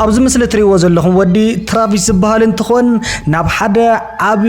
ኣብዚ ምስሊ እትሪእዎ ዘለኹም ወዲ ትራቪስ ዝበሃል እንትኾን ናብ ሓደ ዓቢ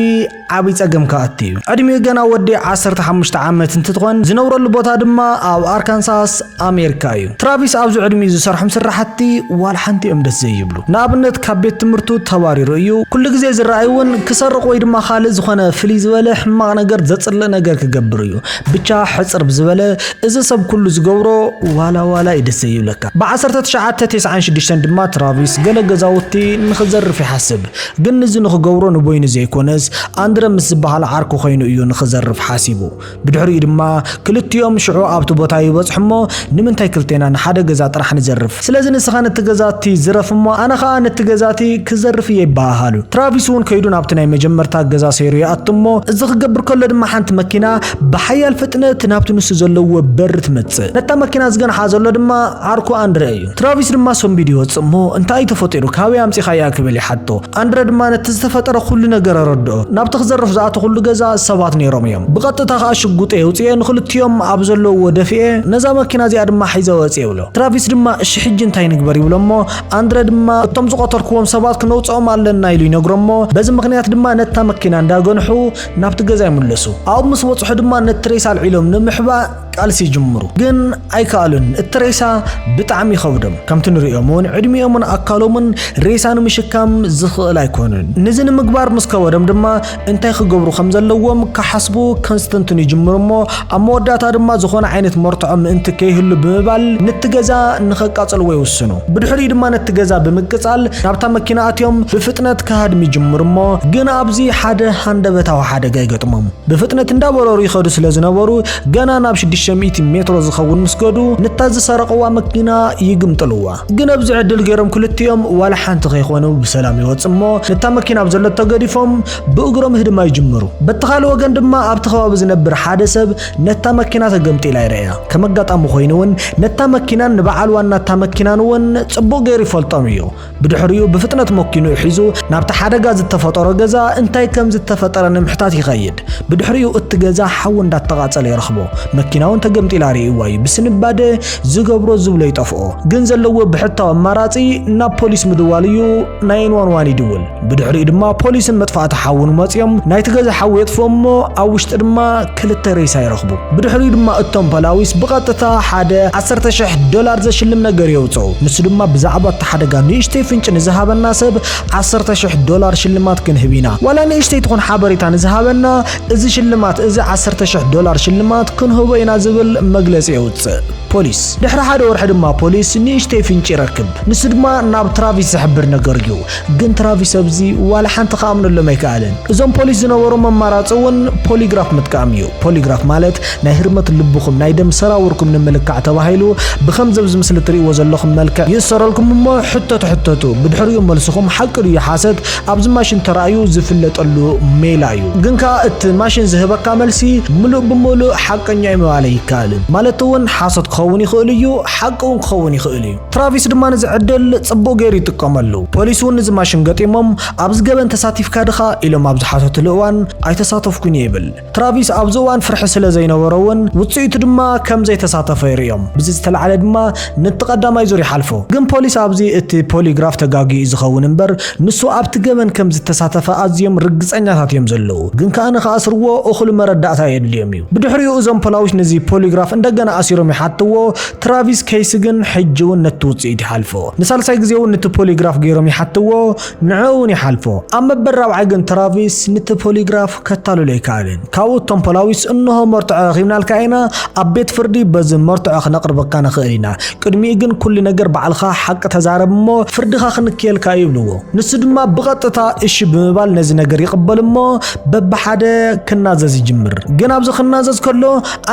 ዓቢ ጸገም ክኣቱ እዩ ዕድሚኡ ገና ወዲ 15 ዓመት እንትትኾን ዝነብረሉ ቦታ ድማ ኣብ ኣርካንሳስ ኣሜሪካ እዩ ትራቪስ ኣብዚ ዕድሚኡ ዝሰርሖም ስራሕቲ ዋላ ሓንቲ እዮም ደስ ዘይብሉ ንኣብነት ካብ ቤት ትምህርቱ ተባሪሩ እዩ ኩሉ ግዜ ዝረኣይ እውን ክሰርቕ ወይ ድማ ካልእ ዝኾነ ፍልይ ዝበለ ሕማቕ ነገር ዘጽልእ ነገር ክገብር እዩ ብቻ ሕጽር ብዝበለ እዚ ሰብ ኩሉ ዝገብሮ ዋላ ዋላ እዩ ደስ ዘይብለካ ብ ዓሰርተ ትሽዓተ ቴስዓን ሽዱሽተን ድማ ትራቪስ ገለ ገዛውቲ ንክዘርፍ ይሓስብ ግን ንዚ ንክገብሮ ንበይኑ ዘይኮነስ ኣንድረ ምስ ዝበሃል ዓርኩ ኮይኑ እዩ ንክዘርፍ ሓሲቡ ብድሕሪኡ ድማ ክልቲኦም ሽዑ ኣብቲ ቦታ ይበጽሑ እሞ ንምንታይ ክልቴና ንሓደ ገዛ ጥራሕ ንዘርፍ ስለዚ ንስኻ ነቲ ገዛቲ ዝረፍ እሞ ኣነ ኸኣ ነቲ ገዛቲ ክዘርፍ እየ ይበሃሃሉ ትራቪስ ውን ከይዱ ናብቲ ናይ መጀመርታ ገዛ ሰይሩ ይኣቱ እሞ እዚ ክገብር ከሎ ድማ ሓንቲ መኪና ብሓያል ፍጥነት ናብቲ ንሱ ዘለዎ በሪ ትመጽእ ነታ መኪና ዝገንሓ ዘሎ ድማ ዓርኩ ኣንድረ እዩ ትራቪስ ድማ ሰንቢዱ ይወጽእ እሞ እንታይ እዩ ተፈጢሩ ካበይ ኣምጺኻያ ክብል ይሓቶ ኣንድረ ድማ ነቲ ዝተፈጠረ ኩሉ ነገር ኣረድኦ ናብቲ ክዘርፍ ዝኣተኹሉ ገዛ ሰባት ኔሮም እዮም ብቐጥታ ከኣ ሽጉጠይ ኣውጺኤ ንኽልቲኦም ኣብ ዘለውዎ ደፊኤ ነዛ መኪና እዚኣ ድማ ሒዘ ወጽየ ይብሎ ትራቪስ ድማ እሺ ሕጂ እንታይ ንግበር ይብሎ እሞ ኣንድረ ድማ እቶም ዝቐተልክዎም ሰባት ክነውጽኦም ኣለና ኢሉ ይነግሮ እሞ በዚ ምኽንያት ድማ ነታ መኪና እንዳገንሑ ናብቲ ገዛ ይምለሱ ኣብኡ ምስ በጽሑ ድማ ነቲ ሬሳ ኣልዒሎም ንምሕባእ ቃልሲ ይጅምሩ ግን ኣይከኣሉን እቲ ሬሳ ብጣዕሚ ይኸብዶም ከምቲ ንርእዮም ውን ዕድሚኦምን ኣካሎምን ሬሳ ንምሽካም ዝኽእል ኣይኮኑን ንዚ ንምግባር ምስ ከበዶም ድማ እንታይ ክገብሩ ከም ዘለዎም ክሓስቡ ከንስተንትኑ ይጅምሩ እሞ ኣብ መወዳእታ ድማ ዝኾነ ዓይነት መርትዖ ምእንቲ ከይህሉ ብምባል ንቲ ገዛ ንኸቃጽልዎ ይውስኑ ብድሕሪኡ ድማ ነቲ ገዛ ብምቅጻል ናብታ መኪና ኣትዮም ብፍጥነት ክሃድም ይጅምሩ እሞ ግን ኣብዚ ሓደ ሃንደበታዊ ሓደጋ ይገጥሞም ብፍጥነት እንዳበረሩ ይኸዱ ስለ ዝነበሩ ገና ናብ ሽዱሽተ ሚእቲ ሜትሮ ዝኸውን ምስ ገዱ ንታ ዝሰረቐዋ መኪና ይግምጥልዋ። ግን ኣብዚ ዕድል ገይሮም ክልቲኦም ዋላ ሓንቲ ከይኾኑ ብሰላም ይወጽ እሞ ንታ መኪና ኣብ ዘለቶ ገዲፎም ብእግሮም ህድማ ይጅምሩ። በቲ ካልእ ወገን ድማ ኣብቲ ከባቢ ዝነብር ሓደ ሰብ ነታ መኪና ተገምጢላ ይርእያ። ከም ኣጋጣሚ ኮይኑ እውን ነታ መኪናን ንበዓል ዋና እታ መኪናን እውን ጽቡቕ ገይሩ ይፈልጦም እዩ። ብድሕሪኡ ብፍጥነት መኪንኡ ሒዙ ናብቲ ሓደጋ ዝተፈጠሮ ገዛ እንታይ ከም ዝተፈጠረ ንምሕታት ይኸይድ። ብድሕሪኡ እቲ ገዛ ሓዊ እንዳተቓጸለ ይረኽቦ። መኪና እውን ተገምጢላ ርእይዋ እዩ። ብስንባደ ዝገብሮ ዝብሎ ይጠፍኦ። ግን ዘለዎ ብሕታዊ ኣማራጺ ናብ ፖሊስ ምድዋል እዩ። ናይን ዋን ዋን ይድውል። ብድሕሪኡ ድማ ፖሊስን መጥፋእቲ ሓውን መጽዮም ናይቲ ገዛ ሓዊ የጥፍኡ እሞ ኣብ ውሽጢ ድማ ክልተ ሬሳ ይረኽቡ። ብድሕሪኡ ድማ እቶም ፖላዊስ ብቐጥታ ሓደ ዓሰርተ ሽሕ ዶላር ዘሽልም ነገር የውጽኡ። ንሱ ድማ ብዛዕባ እቲ ሓደጋ ንእሽተይ ፍንጪ ንዝሃበና ሰብ ዓሰርተ ሽሕ ዶላር ሽልማት ክንህብ ኢና። ዋላ ንእሽተይ ትኹን ሓበሬታ ንዝሃበና እዚ ሽልማት እዚ ዓሰርተ ሽሕ ዶላር ሽልማት ክንህቦ ኢና ዝብል መግለጺ የውጽእ ፖሊስ። ድሕሪ ሓደ ወርሒ ድማ ፖሊስ ንእሽተይ ፍንጪ ይረክብ። ንሱ ድማ ናብ ትራቪስ ዝሕብር ነገር እዩ። ግን ትራቪስ ኣብዚ ዋላ ሓንቲ ክኣምነሎም ኣይከኣለን። እዞም ፖሊስ ዝነበሮም ኣማራፂ እውን ፖሊግራፍ ምጥቃም እዩ። ፖሊግራፍ ማለት ናይ ህርመት ልብኹም፣ ናይ ደም ሰራውርኩም ንምልካዕ ተባሂሉ ብከምዚ ኣብዚ ምስሊ እትሪእዎ ዘለኹም መልክዕ ይእሰረልኩም እሞ ሕቶ ትሕተቱ። ብድሕሪኡ መልስኹም ሓቂ ድዩ ሓሰት ኣብዚ ማሽን ተራእዩ ዝፍለጠሉ ሜላ እዩ። ግን ከዓ እቲ ማሽን ዝህበካ መልሲ ምሉእ ብምሉእ ሓቀኛ እዩ ምባል ኣይከኣልን። ማለት እውን ሓሶት ክኸውን ይኽእል እዩ፣ ሓቂ እውን ክኸውን ይኽእል እዩ። ትራቪስ ድማ ንዚ ዕድል ጽቡቕ ገይሩ ይጥቀመሉ። ፖሊስ እውን ንዚ ማሽን ገጢሞም ኣብዚ ገበን ተሳቲፍካ ድኻ ኢሎም ኣብ ዝሓተትሉ እዋን ኣይተሳተፍኩን እየ ይብል። ትራቪስ ኣብዚ እዋን ፍርሒ ስለ ዘይነበሮ እውን ውጽኢቱ ድማ ከም ዘይተሳተፈ ይርእዮም። ብዚ ዝተላዕለ ድማ ንቲ ቀዳማይ ዙር ይሓልፎ። ግን ፖሊስ ኣብዚ እቲ ፖሊግራፍ ተጋግዩ እዩ ዝኸውን እምበር ንሱ ኣብቲ ገበን ከም ዝተሳተፈ ኣዝዮም ርግጸኛታት እዮም ዘለዉ። ግን ከኣ ንክኣስርዎ እኹል መረዳእታ የድልዮም እዩ። ብድሕሪኡ እዞም ፖላዊስ ንዚ ፖሊግራፍ እንደገና ኣሲሮም ይሓትዎ። ትራቪስ ኬይሲ ግን ሕጂ እውን ነቲ ውጽኢት ይሓልፎ። ንሳልሳይ ግዜ እውን ንቲ ፖሊግራፍ ገይሮም ይሓትዎ፣ ንዕኡ እውን ይሓልፎ። ኣብ መበል ራብዓይ ግን ትራቪስ ንቲ ፖሊግራፍ ከታልሎ ኣይከኣለን። ካብኡ እቶም ፖላዊስ እንሆ መርትዖ ረኺብናልካ ኢና፣ ኣብ ቤት ፍርዲ በዚ መርትዖ ክነቕርበካ ንኽእል ኢና፣ ቅድሚኡ ግን ኩሉ ነገር ባዕልኻ ሓቂ ተዛረብ እሞ ፍርድኻ ክንክየልካ እዩ ይብልዎ። ንሱ ድማ ብቐጥታ እሺ ብምባል ነዚ ነገር ይቕበል እሞ በብሓደ ክናዘዝ ይጅምር። ግን ኣብዚ ክናዘዝ ከሎ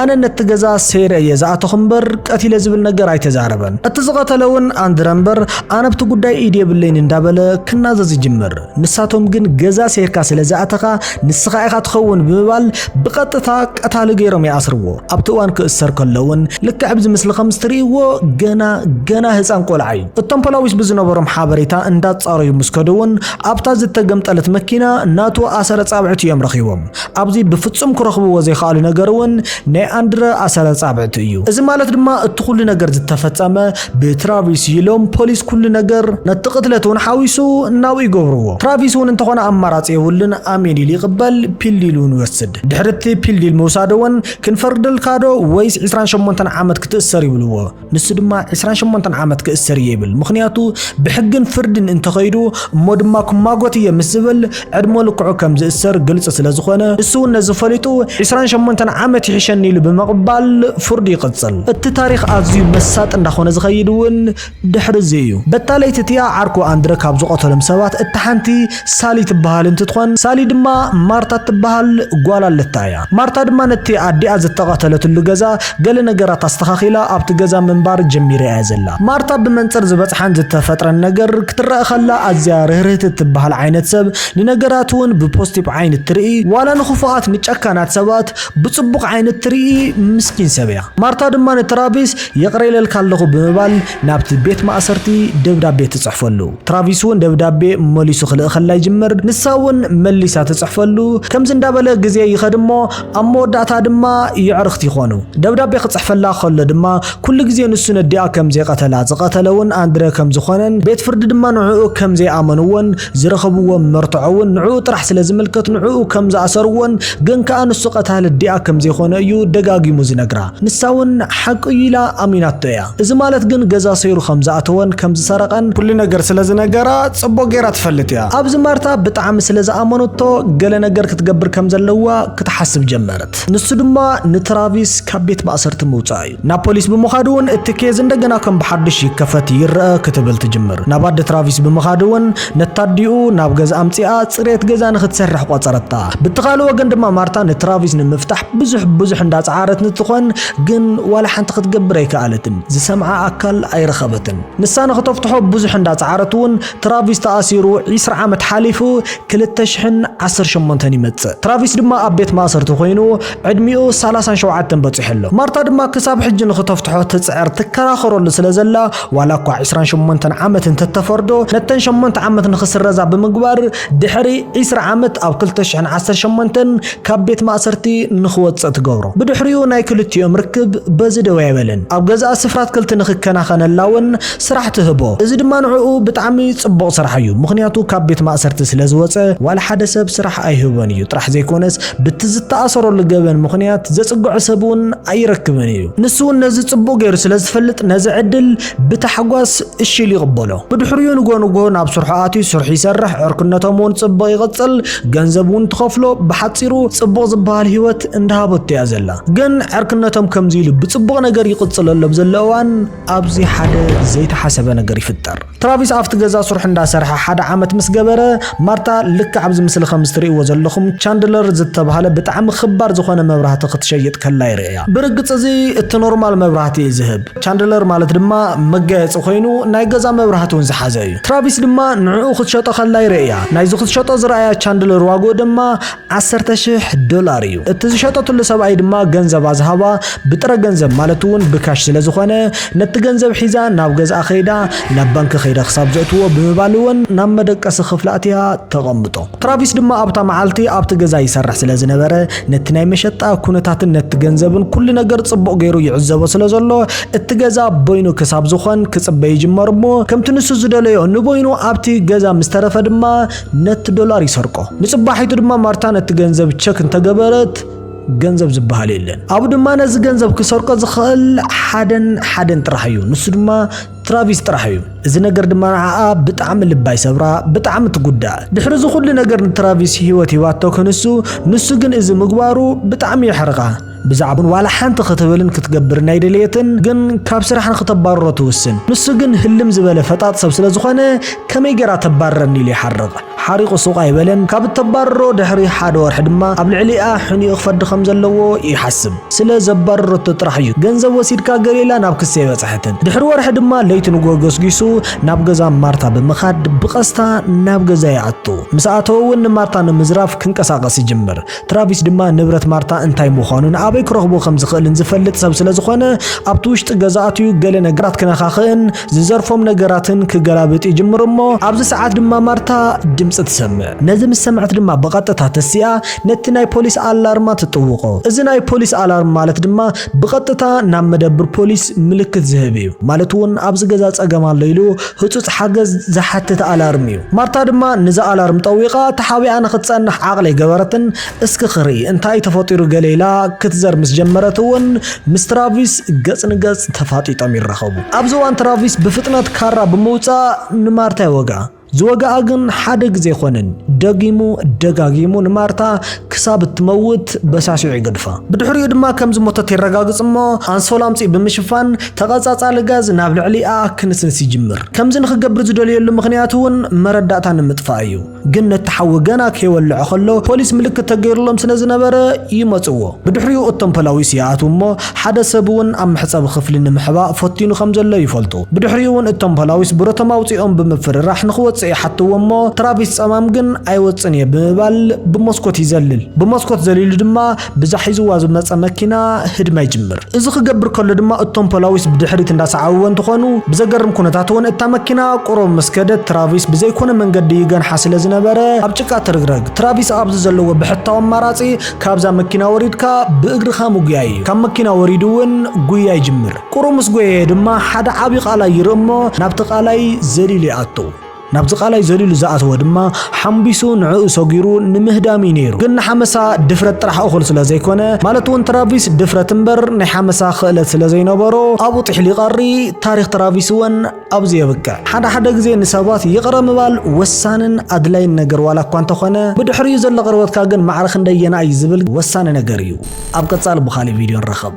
ኣነ ነቲ ገዛ ሰይረ እየ ዝኣተኹ እምበር ቀቲለ ዝብል ነገር ኣይተዛረበን። እቲ ዝቐተለ እውን ኣንድረ እምበር ኣነ ኣብቲ ጉዳይ ኢድ የብለይን እንዳበለ ክናዘዝ ይጅምር። ንሳቶም ግን ገዛ ሰይርካ ስለ ዝኣተኻ ንስኻ ኢኻ ትኸውን ብምባል ብቐጥታ ቀታሊ ገይሮም ይኣስርዎ። ኣብቲ እዋን ክእሰር ከሎ እውን ልክዕ ኣብዚ ምስሊ ከምስትርእይዎ ገና ገና ህፃን ቆልዓ እዩ። እቶም ፖላዊስ ብዝነበሮም ሓበሬታ እንዳፃረዩ ምስ ከዱ እውን ኣብታ ዝተገምጠለት መኪና ናቱ ኣሰረ ፃብዕቲ እዮም ረኺቦም። ኣብዚ ብፍጹም ክረኽብዎ ዘይኸኣሉ ነገር እውን ናይ ኣንድረ ኣሰረ ጻብዕቲ እዩ። እዚ ማለት ድማ እቲ ኩሉ ነገር ዝተፈጸመ ብትራቪስ እዩ ኢሎም ፖሊስ ኩሉ ነገር ነቲ ቅትለት እውን ሓዊሱ ናብኡ ይገብርዎ። ትራቪስ እውን እንተኾነ ኣማራጺ የብሉን ኣሜን ኢሉ ይቕበል ፒል ዲል እውን ይወስድ። ድሕሪ እቲ ፒል ዲል ምውሳዱ እውን ክንፈርደልካዶ ወይስ ዕስራን ሸሞንተን ዓመት ክትእሰር ይብልዎ። ንሱ ድማ ዕስራን ሸሞንተን ዓመት ክእሰር እየ ይብል። ምኽንያቱ ብሕግን ፍርድን እንተኸይዱ እሞ ድማ ክማጎት እየ ምስ ዝብል ዕድመ ልክዑ ከም ዝእሰር ግልፂ ስለ ዝኾነ ንሱ እውን ነዚ ፈሊጡ ዕስራን ሸሞንተን ዓመት ይሕሸኒ ኢሉ ብምቕባል ፍርዱ ይቕፅል። እቲ ታሪኽ ኣዝዩ መሳጢ እንዳኾነ ዝኸይድ እውን ድሕሪ እዚ እዩ። በታ ለይቲ እቲኣ ዓርኩ ኣንድረ ካብ ዝቐተሎም ሰባት እታ ሓንቲ ሳሊ ትበሃል እንትትኾን ሳሊ ድማ ማርታ እትበሃል ጓል ኣለታ እያ። ማርታ ድማ ነቲ ኣዲኣ ዝተቐተለትሉ ገዛ ገለ ነገራት ኣስተኻኺላ ኣብቲ ገዛ ምንባር ጀሚራ እያ ዘላ። ማርታ ብመንጽር ዝበጽሓን ዝተፈጥረን ነገር ክትረኣ ከላ ኣዝያ ርህርህቲ እትበሃል ዓይነት ሰብ፣ ንነገራት እውን ብፖስቲፕ ዓይኒ እትርኢ፣ ዋላ ንክፉኣት ንጨካናት ሰባት ብጽቡቕ ዓይኒ እትርኢ ምስኪን ሰብ እያ። ማርታ ድማ ንትራቪስ ይቕረ ኢለልካ ኣለኹ ብምባል ናብቲ ቤት ማእሰርቲ ደብዳቤ ትጽሕፈሉ። ትራቪስ'ውን ደብዳቤ መሊሱ ክልእኸላ ይጅምር፣ ንሳ'ውን መሊሳ ትጽሕፈሉ። ከምዚ እንዳበለ ግዜ ይኸድ'ሞ ኣብ መወዳእታ ድማ የዕርኽቲ ይኾኑ። ደብዳቤ ክጽሕፈላ ከሎ ድማ ኩሉ ግዜ ንሱ ነዲኣ ከም ዘይቀተላ፣ ዝቀተለ'ውን ኣንድረ ከም ዝኾነን ቤት ፍርዲ ድማ ንዕኡ ከም ዘይኣመንዎን፣ ዝረኸብዎ መርትዖ እውን ንዕኡ ጥራሕ ስለ ዝምልከት ንዕኡ ከም ዝኣሰርዎን ግን ከኣ ንሱ ቀታሊ ኣዲኣ ከም ዘይኮነ እዩ ደጋጊሙ ዝነግራ። ንሳ እውን ሓቂ እዩ ኢላ ኣሚናቶ እያ። እዚ ማለት ግን ገዛ ሰይሩ ከም ዝኣተወን ከም ዝሰረቐን። ኩሉ ነገር ስለ ዝነገራ ጽቡቕ ገይራ ትፈልጥ እያ። ኣብዚ ማርታ ብጣዕሚ ስለ ዝኣመነቶ ገለ ነገር ክትገብር ከም ዘለዋ ክትሓስብ ጀመረት። ንሱ ድማ ንትራቪስ ካብ ቤት ማእሰርቲ ምውጻእ እዩ። ናብ ፖሊስ ብምኻድ እውን እቲ ኬዝ እንደገና ከም ብሓዱሽ ይከፈት ይረኣ ክትብል ትጅምር። ናብ ኣደ ትራቪስ ብምኻድ እውን ነታ ኣዲኡ ናብ ገዝኣ ኣምጺኣ ጽሬት ገዛ ንኽትሰርሕ ቖጸረታ። ብቲ ካልእ ወገን ድማ ማርታ ንትራቪስ ንምፍታሕ ብዙሕ ብዙሕ እንዳጸዓረት ንትኾን ግን ዋላ ሓንቲ ክትገብር ኣይከኣለትን። ዝሰምዓ ኣካል ኣይረኸበትን። ንሳ ንኽተፍትሖ ብዙሕ እንዳጸዓረት እውን ትራቪስ ተኣሲሩ ዕስራ ዓመት ሓሊፉ ክልተ ሽሕን ዓሰርተ ሸሞንተን ይመጽእ። ትራቪስ ድማ ኣብ ቤት ማእሰርቲ ኮይኑ ዕድሚኡ ሳላሳን ሸውዓተን በጺሑ ኣሎ። ማርታ ድማ ክሳብ ሕጂ ንኽተፍትሖ ትጽዕር፣ ትከራኸረሉ ስለ ዘላ፣ ዋላ እኳ ዕስራን ሸሞንተን ዓመት እንተ ተፈርዶ፣ ነተን ሸሞንተ ዓመት ንኽስረዛ ብምግባር፣ ድሕሪ ዕስራ ዓመት ኣብ ክልተ ሽሕን ዓሰርተ ሸሞንተን ካብ ቤት ማእሰርቲ ንኽወጽእ ትገብሮ። ብድሕሪኡ ናይ ክልቲኦም ርክብ በዚ ደው ኣይበለን። ኣብ ገዛኣ ስፍራ ኣትክልቲ ንኽከናኸነላ እውን ስራሕ ትህቦ። እዚ ድማ ንዕኡ ብጣዕሚ ጽቡቕ ስራሕ እዩ፣ ምኽንያቱ ካብ ቤት ማእሰርቲ ስለ ዝወጸ ዋላ ሓደ ሰብ ስራሕ ኣይህቦን እዩ ጥራሕ ዘይኮነስ፣ ብቲ ዝተኣሰረሉ ገበን ምኽንያት ዘጽግዖ ሰብ እውን ኣይረክብን እዩ። ንሱ እውን ነዚ ጽቡቕ ገይሩ ስለ ዝፈልጥ ነዚ ዕድል ብታሕጓስ እሺ ኢሉ ይቕበሎ። ብድሕሪኡ ንግሆ ንግሆ ናብ ስርሑ ኣትዩ ስርሑ ይሰርሕ፣ ዕርክነቶም እውን ጽቡቕ ይቕጽል፣ ገንዘብ እውን ትኸፍሎ፣ ብሓጺሩ ጽቡቕ ዝበሃል ህይወት እንዳሃበቶ እያ ዘላ። ግን ዕርክነቶም ከምዚ ኢሉ ብጽቡቕ ነገር ይቕጽል ኣሎ ኣብ ዘሎ እዋን፣ ኣብዚ ሓደ ዘይተሓሰበ ነገር ይፍጠር። ትራቪስ ኣብቲ ገዛ ስርሑ እንዳሰርሐ ሓደ ዓመት ምስ ገበረ፣ ማርታ ልክዕ ኣብዚ ምስሊ ከምዚ ትርእይዎ ዘለኹም ቻንድለር ዝተብሃለ ብጣዕሚ ክባር ዝኾነ መብራህቲ ክትሸይጥ ከላ ይርእያ። ብርግጽ እዚ እቲ ኖርማል መብራህቲ እዩ ዝህብ። ቻንድለር ማለት ድማ መጋየጺ ኮይኑ ናይ ገዛ መብራህቲ እውን ዝሓዘ እዩ። ትራቪስ ድማ ንዕኡ ክትሸጦ ከላ ይርእያ። ናይዚ ክትሸጦ ዝረኣያ ቻንድለር ዋግኡ ድማ ዓሰርተ ሽሕ ዶላር እዩ። እቲ ዝሸጠትሉ ሰብኣይ ድማ ገንዘባ ዝሃባ ብጥረ ገንዘብ ማለት እውን ብካሽ ስለ ዝኾነ ነቲ ገንዘብ ሒዛ ናብ ገዝኣ ከይዳ ናብ ባንኪ ከይደ ክሳብ ዘእትዎ ብምባል እውን ናብ መደቀሲ ክፍላ ኣትያ ተቐምጦ። ትራቪስ ድማ ኣብታ መዓልቲ ኣብቲ ገዛ ይሰርሕ ስለ ዝነበረ ነቲ ናይ መሸጣ ኩነታትን ነቲ ገንዘብን ኩሉ ነገር ጽቡቕ ገይሩ ይዕዘቦ ስለ ዘሎ እቲ ገዛ በይኑ ክሳብ ዝኾን ክጽበ ይጅመር እሞ ከምቲ ንሱ ዝደለዮ ንበይኑ ኣብቲ ገዛ ምስ ተረፈ ድማ ነቲ ዶላር ይሰርቆ። ንጽባሒቱ ድማ ማርታ ነቲ ገንዘብ ቸክ እንተገበረት ገንዘብ ዝበሃል የለን። ኣብኡ ድማ ነዚ ገንዘብ ክሰርቆ ዝኽእል ሓደን ሓደን ጥራሕ እዩ፣ ንሱ ድማ ትራቪስ ጥራሕ እዩ። እዚ ነገር ድማ ንዓኣ ብጣዕሚ ልባ ይሰብራ፣ ብጣዕሚ ትጉዳእ። ድሕሪ እዚ ኩሉ ነገር ንትራቪስ ህይወት ሂባቶ ክንሱ፣ ንሱ ግን እዚ ምግባሩ ብጣዕሚ የሕርቓ። ብዛዕቡን ዋላ ሓንቲ ክትብልን ክትገብርን ኣይደለየትን፣ ግን ካብ ስራሕ ንክተባርሮ ትውስን። ንሱ ግን ህልም ዝበለ ፈጣጥ ሰብ ስለ ዝኾነ ከመይ ጌራ ተባርረኒ ኢሉ ይሓርቕ። ሓሪቑ ሱቕ ኣይበለን፣ ካብ እተባርሮ ድሕሪ ሓደ ወርሒ ድማ ኣብ ልዕሊኣ ሕኒኡ ክፈዲ ከም ዘለዎ ይሓስብ። ስለ ዘባረረቶ ጥራሕ እዩ ገንዘብ ወሲድካ ገሌላ ናብ ክሲ ኣይበጽሐትን። ድሕሪ ወርሒ ድማ ለይቲ ንግሆ ገስጊሱ ናብ ገዛ ማርታ ብምኻድ ብቐስታ ናብ ገዛ ይኣቱ። ምስ ኣተወ እውን ንማርታ ንምዝራፍ ክንቀሳቐስ ይጅምር። ትራቪስ ድማ ንብረት ማርታ እንታይ ምዃኑን ኣበይ ክረኽቦ ከም ዝኽእልን ዝፈልጥ ሰብ ስለ ዝኾነ ኣብቲ ውሽጢ ገዛ ኣትዩ ገለ ነገራት ክነኻኽእን ዝዘርፎም ነገራትን ክገላብጥ ይጅምር እሞ ኣብዚ ሰዓት ድማ ማርታ ድምፂ ትሰምዕ። ነዚ ምስ ሰምዐት ድማ ብቐጥታ ተሲኣ ነቲ ናይ ፖሊስ ኣላርማ ትጥውቖ። እዚ ናይ ፖሊስ ኣላርም ማለት ድማ ብቐጥታ ናብ መደብር ፖሊስ ምልክት ዝህብ እዩ። ማለት እውን ኣብዚ ገዛ ፀገም ኣሎ ኢሉ ህጹጽ ሓገዝ ዝሓትት ኣላርም እዩ። ማርታ ድማ ንዛ ኣላርም ጠዊቓ ተሓቢኣ ንኽትጸንሕ ዓቕሊ ኣይገበረትን። እስኪ ክርኢ እንታይ እዩ ተፈጢሩ ገለ ኢላ ክትዘር ምስ ጀመረት እውን ምስ ትራቪስ ገጽ ንገጽ ተፋጢጦም ይራኸቡ። ኣብዚ እዋን ትራቪስ ብፍጥነት ካራ ብምውጻእ ንማርታ ይወግኣ። ዝወግኣ ግን ሓደ ግዜ ኣይኮነን፣ ደጊሙ ደጋጊሙ ንማርታ ክሳብ እትመውት በሳሲዑ ይገድፋ። ብድሕሪኡ ድማ ከም ዝሞተት የረጋግጽ እሞ ኣንሶላ ኣምጺኡ ብምሽፋን ተቐጻጻሊ ጋዝ ናብ ልዕሊኣ ክንስንስ ይጅምር። ከምዚ ንኽገብር ዝደልየሉ ምኽንያት እውን መረዳእታ ንምጥፋእ እዩ። ግን ነቲ ሓዊ ገና ከይወልዐ ከሎ ፖሊስ ምልክት ተገይሩሎም ስለ ዝነበረ ይመጽዎ። ብድሕሪኡ እቶም ፖላዊስ ይኣትዉ እሞ ሓደ ሰብ እውን ኣብ መሕጸቢ ክፍሊ ንምሕባእ ፈቲኑ ከም ዘሎ ይፈልጡ። ብድሕሪኡ እውን እቶም ፖላዊስ ብረቶም ኣውጺኦም ብምፍርራሕ ንኽወጽእ ይሓትዎ እሞ ትራቪስ ጸማም ግን ኣይወጽእን እየ ብምባል ብመስኮት ይዘልል። ብመስኮት ዘሊሉ ድማ ብዛ ሒዝዋ ዝመጸ መኪና ህድማ ይጅምር። እዚ ክገብር ከሎ ድማ እቶም ፖላዊስ ብድሕሪት እንዳሰዓብዎ እንትኾኑ፣ ብዘገርም ኩነታት እውን እታ መኪና ቁሩብ ምስ ከደት ትራቪስ ብዘይኮነ መንገዲ ይገንሓ ስለ ዝነበረ ኣብ ጭቃ ትርግረግ። ትራቪስ ኣብዚ ዘለዎ ብሕታዊ ኣማራጺ ካብዛ መኪና ወሪድካ ብእግርኻ ምጉያይ እዩ። ካብ መኪና ወሪዱ እውን ጉያ ይጅምር። ቁሩብ ምስ ጎየየ ድማ ሓደ ዓቢ ቃላይ ይርኢ እሞ ናብቲ ቃላይ ዘሊሉ ይኣቱ። ናብዚ ቃላይ ዘሊሉ ዝኣተወ ድማ ሓምቢሱ ንዕኡ ሰጒሩ ንምህዳም እዩ ነይሩ። ግን ንሓመሳ ድፍረት ጥራሕ እኹል ስለ ዘይኮነ፣ ማለት እውን ትራቪስ ድፍረት እምበር ናይ ሓመሳ ክእለት ስለ ዘይነበሮ ኣብኡ ጢሕሉ ይቐሪ፣ ታሪኽ ትራቪስ እውን ኣብዚ የብቅዕ። ሓደ ሓደ ግዜ ንሰባት ይቕረ ምባል ወሳንን ኣድላይን ነገር ዋላ እኳ እንተኾነ፣ ብድሕሪኡ ዘሎ ቅርበትካ ግን ማዕረ ክንደየናይ እዩ ዝብል ወሳኒ ነገር እዩ። ኣብ ቀፃሊ ብኻሊእ ቪድዮ ንራኸብ።